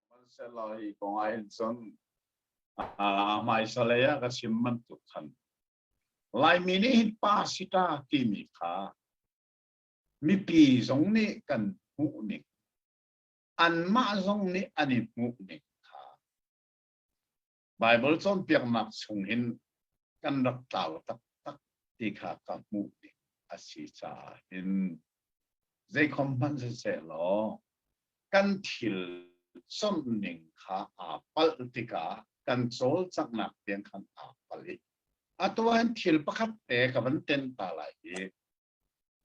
Hmansehlawi kong ahhin cun ah hmaisalei ah ka chim bantuk khan Laimi nih hin pa si ta timi kha mipi zong nih kan hmuh ning anmah zong nih an i hmuh ning kha Baibal cawnpiaknak chung hin kan rak tlau taktak ti kha ka hmuh ding a si caah hin zeikhom hmanh sisehlaw kan thil chawnh ning kha aa palh tikah kan cawlcanghnak tiang khan aa palh i a tuan thil pakhat te ka van ten ta lai hi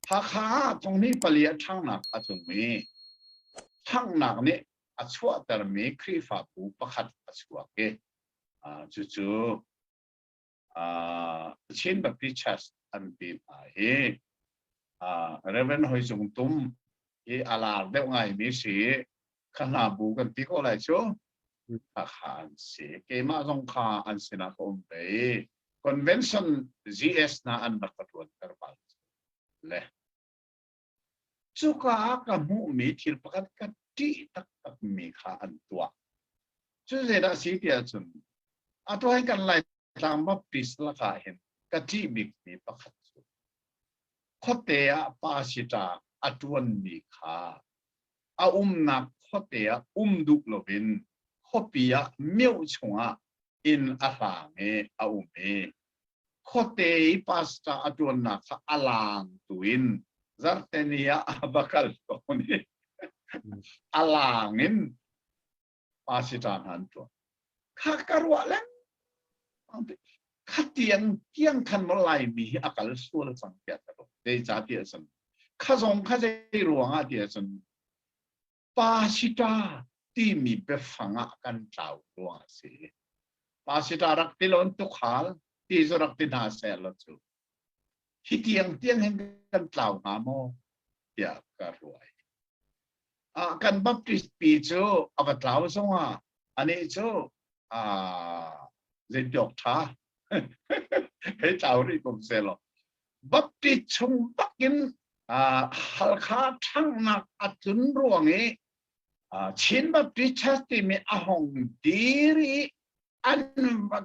Hakha ah thongni pali a ṭhangnak a tlungmi, ṭhanghnak nih a chuahtermi Khrihfa phu pakhat a chuak i cucu Chin Baptist Church an ti hna hi Reverend Hoi Cung Tum hi a lar deuh ngaimi si i kha hna bu kan ti ko lai cu khakha an si keimah zong kha an sinah ka um pei convention gs na an rak ka tuan ter bal le cuka ka hmuhmi thil pakhat ka ṭih taktak mi kha an tuah cu zeidah si ti ahcun a tuai kan lai tlang ma peace laka hin ka ṭih bikmi pakhat cu khuate ah pa si ṭa a ṭuan mi kha a umnak khuate ah um duh loin khuapi ah mioh chungah inn a hlaang i a um i khuate i pastor a ṭuannak kha a laangtu in Zarhteni ah a va kal tawn i a laang in pasita hna an tuah kha ka ruah leng khatian kiang than lo lai mi hi akal sual cang tiah ka ruah zei ca ti a san kha zong kha zei ruangah ti a san pasita timi biafang ah kan tlau ruang a si pasita rak ti lon tu khal ti zu rak ti hna ser lo cu Hi tiang tiang hin kan tlau hnga maw? tiah ka ruai. Uh, kan Baptist pi cu a va tlau zongah anih cu uh, zeitiok ṭha hei tlau rih ko se lo. Baptist chung bakin uh, Halkha ṭhangnak a tlun ruang i uh, Chin Baptist Church timi a hong dir i an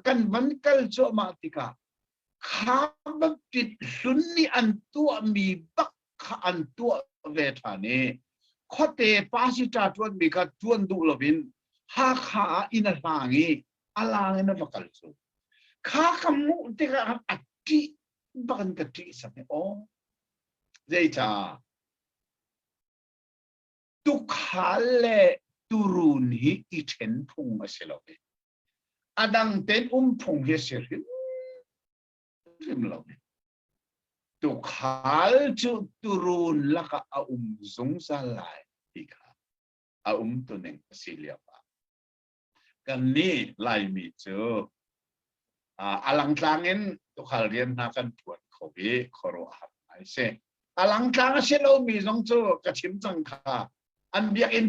kan van kal cuahmah tikah Kha bakit hlun nih an tuahmi bak kha an tuah ve ṭhan i khuate pasita ṭuanmi kha ṭuan duh loin Hakha ah inn a hlang i a lang in a va kal cu. Kha ka hmuh tikah a ṭih bak in ka ṭih sak i aw zeicah tukhal le turun hi i ṭhen phung a si lo e. a dang tein um phung hi si hrimhrim lo. Tukhal cu turun lakah a um zungzal lai ti kha a um tuning a si lio ah. Kan nih Laimi cu a langtlang in tukhal rian hna kan phuan kho i khuaruahhar ai si. A langtlang a si lomi zong cu ka chim cang kha an biakinn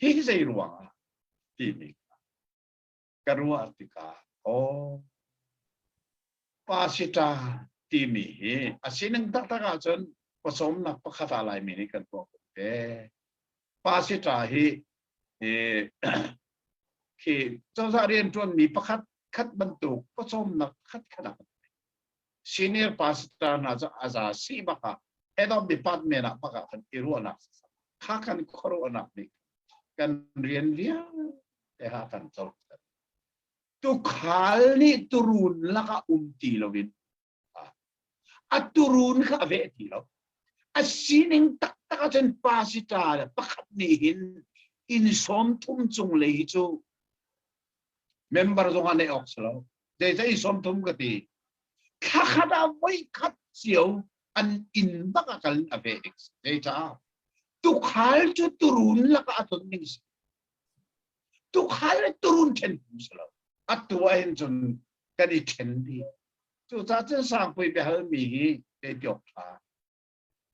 hi zei ruang ah timi ka ruah tikah aw pa si ta timi hi a sining taktak ahcun pawcawmnak pakhat ah laimi nih kan tuah ko te pa si ta hi khi cozah rian tuanmi pakhat khat bantuk pawcawmnak khat khat ah senior pastor hna cu a za si bak ah head of department ah bak ah kan i ruahnak kha kan khuaruahnak nih kan rian vialte ha kan co tukhal nih turun laka um ti lo in a turun kha a veh ti lo a sining taktak ahcun pasita le pakhat nih hin in sawm thum cung lei hi cu member zong ah neih awk si lo zeizei sawmthum ka ti thla khat ah voi khat cio an inn bak ah kal a ve ding zei caah tukhal cu turun lak ah a ton ning si tukhal le turun ṭhen kum si lo a tu ah hin cun kan i ṭhen di cucaah cun sangpui biahal mi hi kei piok ṭha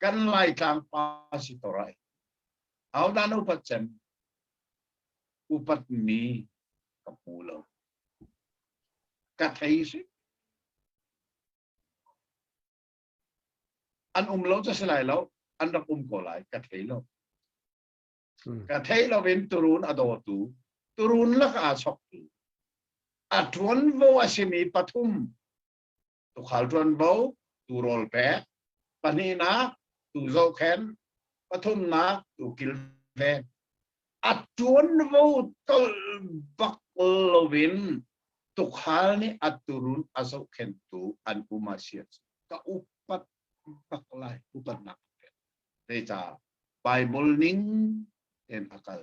kan laitlang pa si to rai au dan upat cem upat mi ka pu lo ka thei si an um lo cha lai lo an rak um ko lai ka thei lo ka thei lo in turun a do tu turun lak a sok tu a tuan vo a simi pathum tukhal ṭuanvo, tu rawl pek, pahnihnak tu zohkhen, pathumnak tu kilven. A ṭuanvo tol bak loin tukhal nih a turun a zohkhentu an um a si. Ka upat bak lai, upatnak pek. Zeicah? Bible ning ten a kal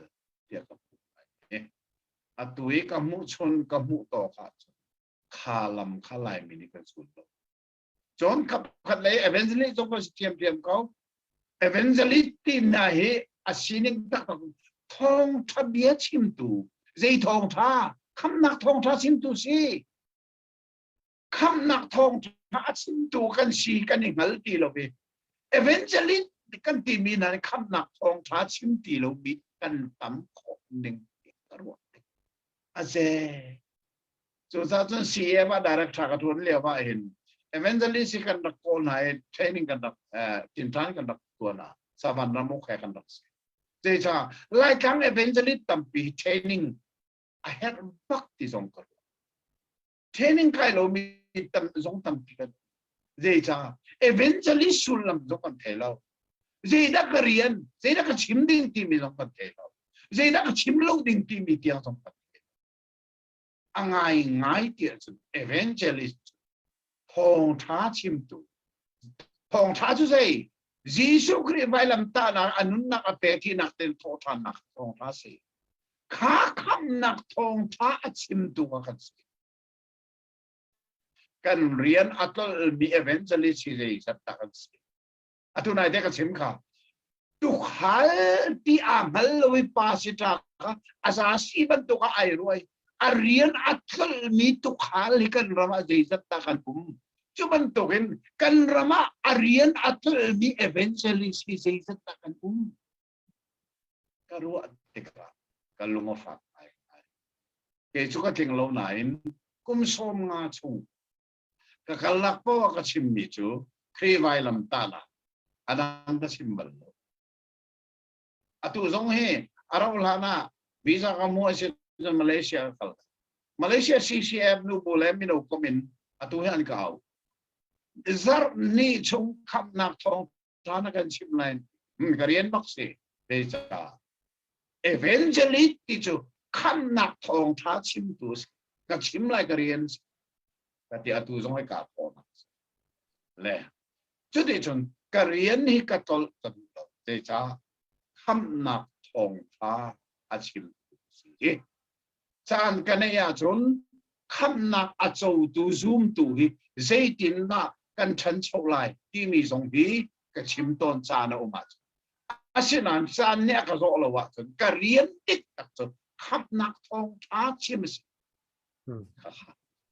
tiah ka hmuh lai. A tu i ka hmuh chun ka hmuh tawk ah kha lam kha laimi nih kan sun lo cun kap khat lei evangelist zong kan si thiam thiam ko evangelist tim hna hi a sining taktak thawngtha bia chimtu zei thawngtha khamnak thawngtha chimtu si khamnak thawngtha a chimtu kan si kan i hngal ti lo ve evangelist kan timi hna khamnak thawngtha chim ti lo mi kan tam khawh ning ka ruah a ze Cucaah cun CEF ah director ka tuan lio ah hin evangelist hi kan rak kawl hna i training kan rak tintang kan rak tuan hna savan ramuk he kan rak si zeicah laitlang evangelist tampi training a herh bak ti zong ka ruah training kai lomi zong tampi kan zeicah evangelist sullam zong kan thei lo zeidah ka rian zeidah ka chim ding timi zong kan thei lo zeidah ka chim lo ding timi tiang zong kan thei a ngaingai ti ahcun evangelist thawngtha chimtu thawngtha cu zei Jesuh Khrih vailamtahnak a nunnak a pek hinak ten thawhthannak thawngtha si kha khamnak thawngtha a chimtu kha kan si kan rian a tlolmi evangelist hi zei zat dah kan si atu nai te ka chim kha tukhal ti a ngal lo i pa si ta kha a za si bantuk a ai ruai a rian a tlol mi tukhal hi kan ram ah zeizat ta kan um cu bantuk in kan ram ah a rian a tlol mi evangelist hi zeizat ta kan um ka ruah tikah ka lung a fak ai ke chu ka tling lo nain kum sawm nga chung Ka kalnak paoh a ka chimmi cu Khrih vailam tal ah a dang ka chim bal lo. Atu zong hi a rauh hlan ah visa ka mua si cun Malaysia ka kal. Malaysia CCF nu bu le mino kom in atu hi an ka au. Zarh ni chung khamnak thawng caan a kan chimh lai ka rian bak si zeicah evangelist ti cu khamnak thawngtha chimtu ka chim lai ka rian ka ti atu zong ai ka kawnak le cuti cun ka rian hi ka tolh kan lo zeicah khamnak thawngtha a chim si caan ka neih ahcun khamnak a cotu zumtu hi zeitindah kan ṭhancho lai timi zong hi ka chim tawn caan a um ahcun asinain caan nih a ka zawh lo ahcun ka rian tik tak cun khamnak thawngṭha chim a si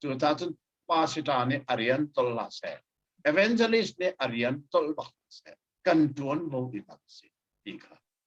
cucaah cun pasita nih a rian tol la seh evangelist nih a rian tol bak seh kan ṭuan lo i bak si ti kha